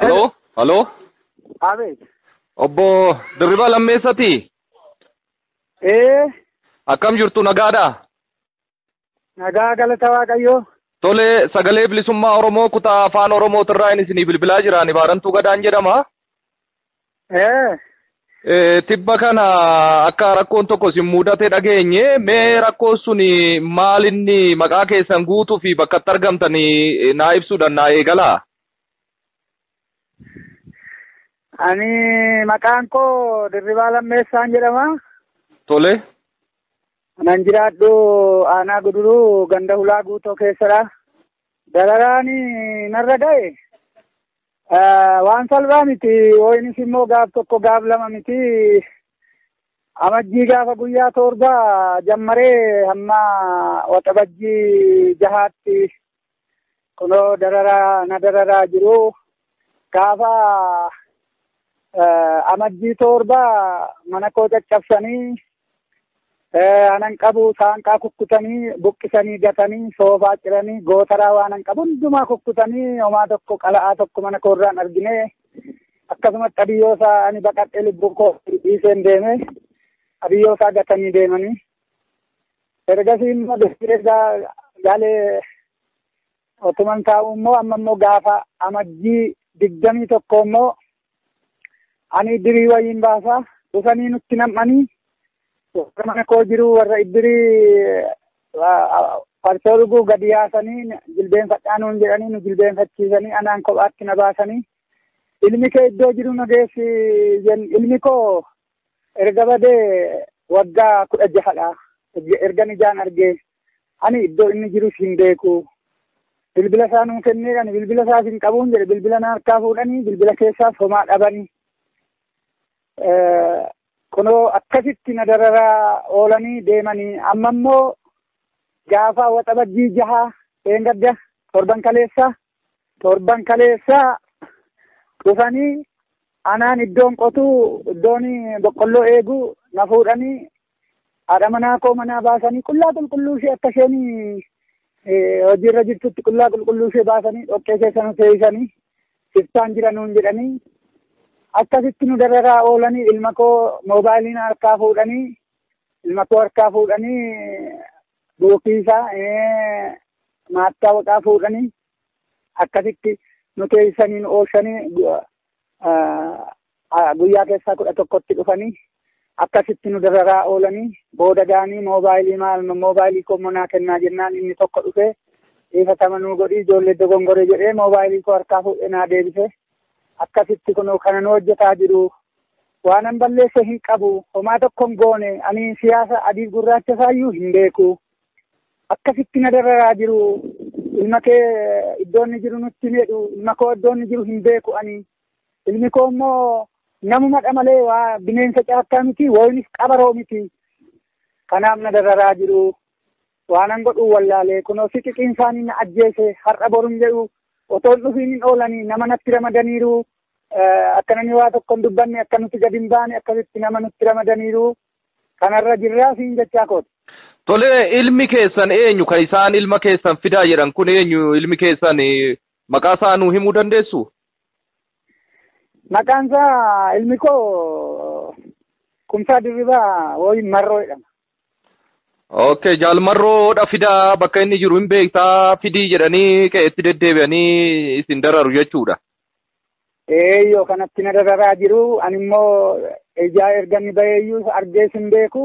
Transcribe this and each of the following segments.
Haloo? Haloo? Abeet. Obbo Dirribaa Lammeessati? Ee, Akkam jirtu nagaadha? nagaa galata Waaqayyoo. Tole sagalee bilisummaa Oromoo kutaa afaan Oromootirraa inni isinii bilbilaa jira. Ani Baarantuu Gadaan jedhama. Eh, Eh, Tibba kana akka rakkoon tokko isin mudate dhageenye mee rakkoon sun maal inni maqaa keessan guutuu fi bakka itti argamtan eh, naa ibsuudhaan naa eegalaa. ani maqaan koo Dirribaa Lammeessaan jedhama. Tole. Nan jiraadhu aanaa guduruu ganda hulaa guutoo keessadha. Dararaan narra ga'e Waan salphaa miti yookiinis immoo gaaf tokko gaaf lama miti amajjii gaafa guyyaa torba jammaree hamma waxabajjii jahaatti kunoo dararaa na dararaa jiru gaafa amajjii torba mana koo caccabsanii anan qabu saanqaa kukkutanii buqqisanii gatanii soofaa ciranii gootaraa waanan qabu hundumaa kukkutanii homaa tokko qala'aa tokko mana koorraan argine akkasumas qabiyyoo isaa ani baqadhee lubbuun koo dhiiseen deeme qabiyyoo isaa gatanii deemanii ergasii immoo deebi'ee gaalee otuman taa'u immoo amma immoo gaafa amajjii digdamii tokko immoo Ani iddirii wayiin baasaa dhufanii nutti nam'anii warra mana koo jiru warra iddirii farsoo dhuguu gadi yaasanii jilbeenfadhaa nuun jedhanii nu jilbeenfachiisanii anaan kophaatti na baasanii ilmi kee iddoo jiru na geessi ilmi koo erga badee waggaa kudha jahadha ergan ijaan argee Ani iddoo inni jirus hin beeku. Bilbila isaa nuu kennee ani bilbila isaas hin qabuun jedhe bilbila na harkaa fuudhanii bilbila keessaas homaa dhabanii. Kunoo akkasitti na dararaa oolanii deemanii amma immoo gaafa waxabajjii jaha dheengadda torban kaleessaa. Torban kaleessaa dhufanii anaan iddoon qotuu iddoon boqqolloo eegu na fuudhanii haadha manaa koo manaa baasanii qullaa qulqulluu ishee akka isheen hojiirra jirtutti qullaa qulqulluu ishee baasanii dhoqqee keessa nu seeysanii siftaan jira nuun jedhanii akkasitti nu dararaa oolanii ilma koo moobaayiliin harkaa fuudhanii ilma koo harkaa fuudhanii Ofii isaa maattaa waqaa fuudhanii akkasitti nu teessanii nu oolchanii guyyaa keessaa kudha tokkotti dhufanii akkasitti nu dararaa oolanii booda gaanii moobaayilii maal moobaayilii koo monaa kennaa jennaan inni tokko dhufee dhiifatama nuu godhii ijoollee dogongore jedhee moobaayilii koo harkaa fuudhee naa deebisee akkasitti kunoo kanan hojjetaa jiru waanan balleesse hin qabu homaa tokko hin goone ani siyaasa adiif gurraacha isaayyuu hin beeku akkasitti na dararaa jiru ilma kee iddoo inni jiru nutti hin jedhu ilma koo iddoo inni jiru hin beeku ani ilmi koo immoo namumadha malee waa bineensa caakkaa miti woonis qabaroo miti kanaaf na dararaa jiru Waanan godhun wallaalee kunoo siqiqiin isaanii na ajjeese har'a boru hin jedhu otoo hin dhufiin hin oolanii nama natti ramadaniiru akka namni waa tokko hin dubbanne akka nuti gadi hin baane akkasitti nama nutti ramadaniiru kanarra jirraa siin jechaa kooti. Tole ilmi keessan eenyu kan isaan ilma keessan fidaa jedhan kun eenyu ilmi keessan maqaa isaa nuu himuu dandeessu? Maqaan isaa ilmi koo kumsaa dirribaa wooyin marroo jedhama. Okay, jaal marroo dha fidaa bakka inni jiru hin beektaa fidii jedhanii qe'eetti deddeebi'anii isin dararu jechuudha. Ee yoo kanatti na dararaa jiru ani immoo ijaa erga inni baheeyyuu argees hin beeku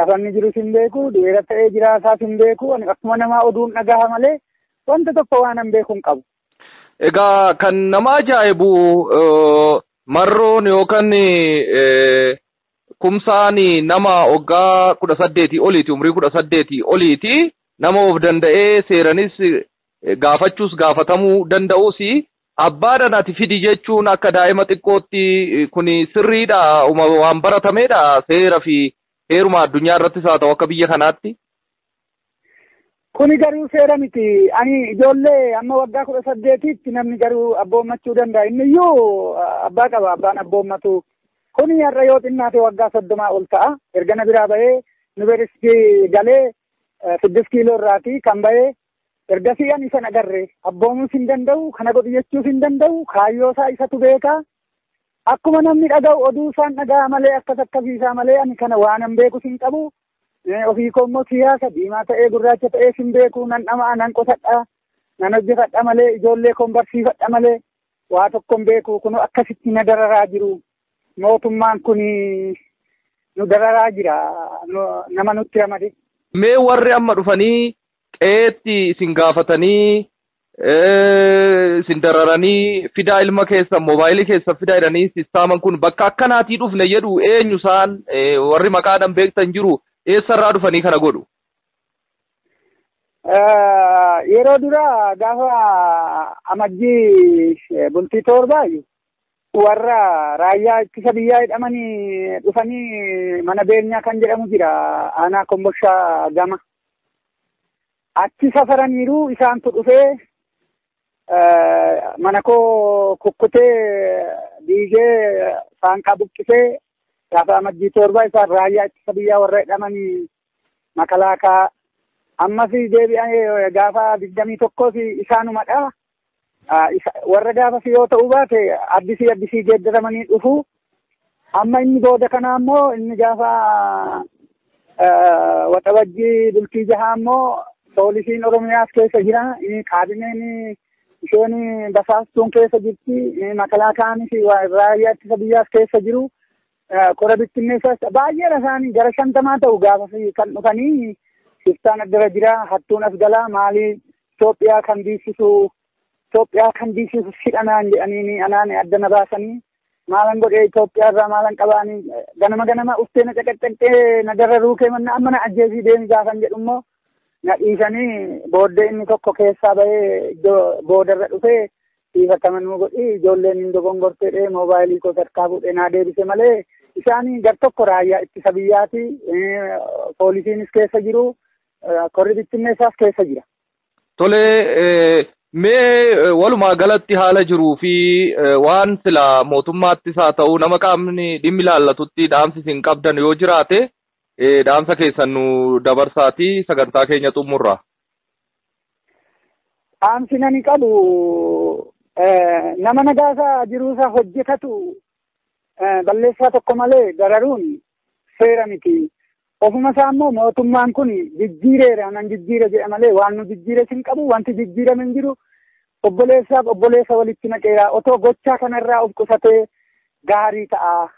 lafa inni jirus hin beeku du'eera ta'ee jiraasaas hin beeku ani akkuma namaa oduun dhagaha malee wanta tokko waan hin beeku hin qabu. Egaa kan nama ajaa'ibu eh, marroon yookaan eh, Kumsaani nama oggaa kudha saddeetii oliiti umrii kudha saddeetii oliiti nama of danda'ee seeranis gaafachuus gaafatamuu danda'usi abbaadhan ati fidi jechuun akka daa'ima xiqqootti kuni sirriidha uma waan baratameedha seera fi heeruma addunyaa irrattis haa ta'u akka biyya kanaatti Kuni garuu seera miti. Ani ijoollee amma waggaa kudha saddeetiitti namni garuu abboommachuu danda'a. Inni iyyuu abbaa qaba abbaan abboommatu. Kuni har'a yoo xinnaate waggaa soddomaa ol ta'a. Erga na biraa bahee yuunivarsiitii galee siddis kiiloo irraati kan bahee ergasii ani isa agarre abboomuus hin danda'u kana godhu jechuus hin danda'u kaayyoo isaa isatu beeka. Akkuma namni dhaga'u oduu isaan dhaga'a malee akkas akkasiisaa malee ani kana waanan beekus hin qabu. Ofii koo immoo siyaasa diimaa ta'ee gurraacha ta'ee sin beeku nan dhama'a nan qotadha nan hojjefadha malee ijoollee koon barsiifadha malee waa tokko hin beeku kunoo akkasitti na dararaa jiru mootummaan kun nu dararaa jira nama nutti ramade. Mee warri amma dhufanii qe'eetti isin gaafatanii isin dararanii fidaa ilma keessan moobaayilii keessan fidaa jedhanii sistaaman kun bakka akkanaatii dhufne jedhu eenyu isaan warri maqaadhaan beektan jiru eessarraa dhufanii kana godhu. Yeroo dura gaafa amajjii bultii torbaayu warra raayyaa ittisa biyyaa jedhamanii dhufanii mana beenyaa kan jedhamu jira aanaa komboshaa gama. Achi safaraniiru isaantu dhufee mana koo kukkutee diigee saanqaa buqqisee gaafa amajjii torba isaan raayyaa ittisa biyyaa warra hidhamanii makalaakaa ammas deebi'anii gaafa digdamii tokkos isaanumadha. Warra gaafas yoo ta'uu baate addisii addisii geeddaramanii dhufu. Amma inni booda kana ammoo inni gaafa waxabajjii bultii jahaa ammoo poolisiin Oromiyaas keessa jira. Kaabineen isheen basaastuun keessa jirti. Makalaakaanis raayyaa ittisa biyyaas keessa jiru. Kora bittinneessaas baay'eedha isaanii gara shantamaa ta'u gaafa kan dhufanii shiftaan addara jira hattuun as galaa maalii Itoophiyaa kan diisisu Itoophiyaa kan diisisu sidhanaan jedhanii anaan adda na baasanii maalan godhee Itoophiyaa irraa maalan qabaanii ganama ganama uftee na caqaccaqxee na dararuu kee manna amma na ajjeesii deemi gaafan jedhu immoo na dhiisanii booddee inni tokko keessaa bahee iddoo boodarra dhufee Dhiifatama nuu godhi ijoolleen hin dogongortee dhee moobaayilii koo harkaa fuudhee naa deebise malee isaan gar tokko raayyaa ittisa biyyaati poolisiinis keessa jiru korri bittinneessaas keessa jira. Tole mee walumaa galatti haala jiruu fi waan sila mootummaattis haa ta'u nama qaamni dhimmi ilaallatutti dhaamsi isin qabdan yoo jiraate dhaamsa keessan nu dabarsaati sagantaa keenya xumurra. Dhaamsi nani qabu nama nagaasaa jiruusaa hojjetatu balleessaa tokko malee dararuun seera miti. Ofuma isaa immoo mootummaan kun jijjiireera nan jijjiire jedha malee waan nu jijjiires hin qabu wanti jijjiirame hin jiru. Obboleessaaf obboleessa walitti naqeera otoo gochaa kanarraa of qusatee gaarii ta'a.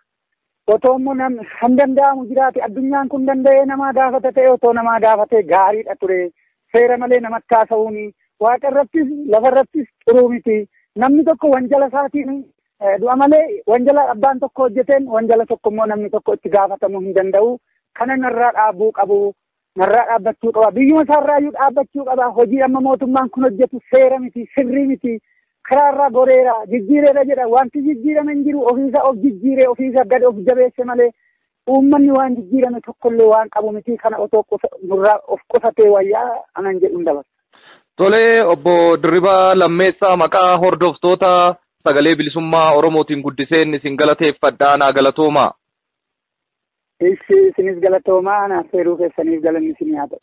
Otoo immoo nam kan danda'amu jiraate addunyaan kun danda'ee namaa gaafata ta'e otoo namaa gaafatee gaariidha ture. Seera malee namatti haasa'uun waaqa irrattis lafa irrattis xuruu miti. Namni tokko wanjala isaatiin du'a malee wanjala abbaan tokko hojjeteen wanjala tokko immoo namni tokko itti gaafatamuu hin danda'u. Kana narraa dhaabuu qabu. Narraa dhaabbachuu qaba. Biyyuma isaarraayyuu dhaabbachuu qaba. Hojii amma mootummaan kun hojjetu seera miti, sirrii miti. Karaarraa goreera, jijjiireera jedha. Wanti jijjiirame hin jiru. Ofiisaa of jijjiiree, ofiisaa gad of jabeesse malee uummanni waan jijjiirame tokkollee waan qabu miti. Kana otoo nurraa of qusatee wayyaa anan jedhu hin dabarsa. Tolee, obbo Dirribaa Lammeessaa maqaa hordoftoota sagalee bilisummaa Oromootiin guddiseen isin galateeffadha. Naa galatoomaa. Ishi isinis galatoomaa naaf feeruu keessaniif galanni isinii haa ta'u.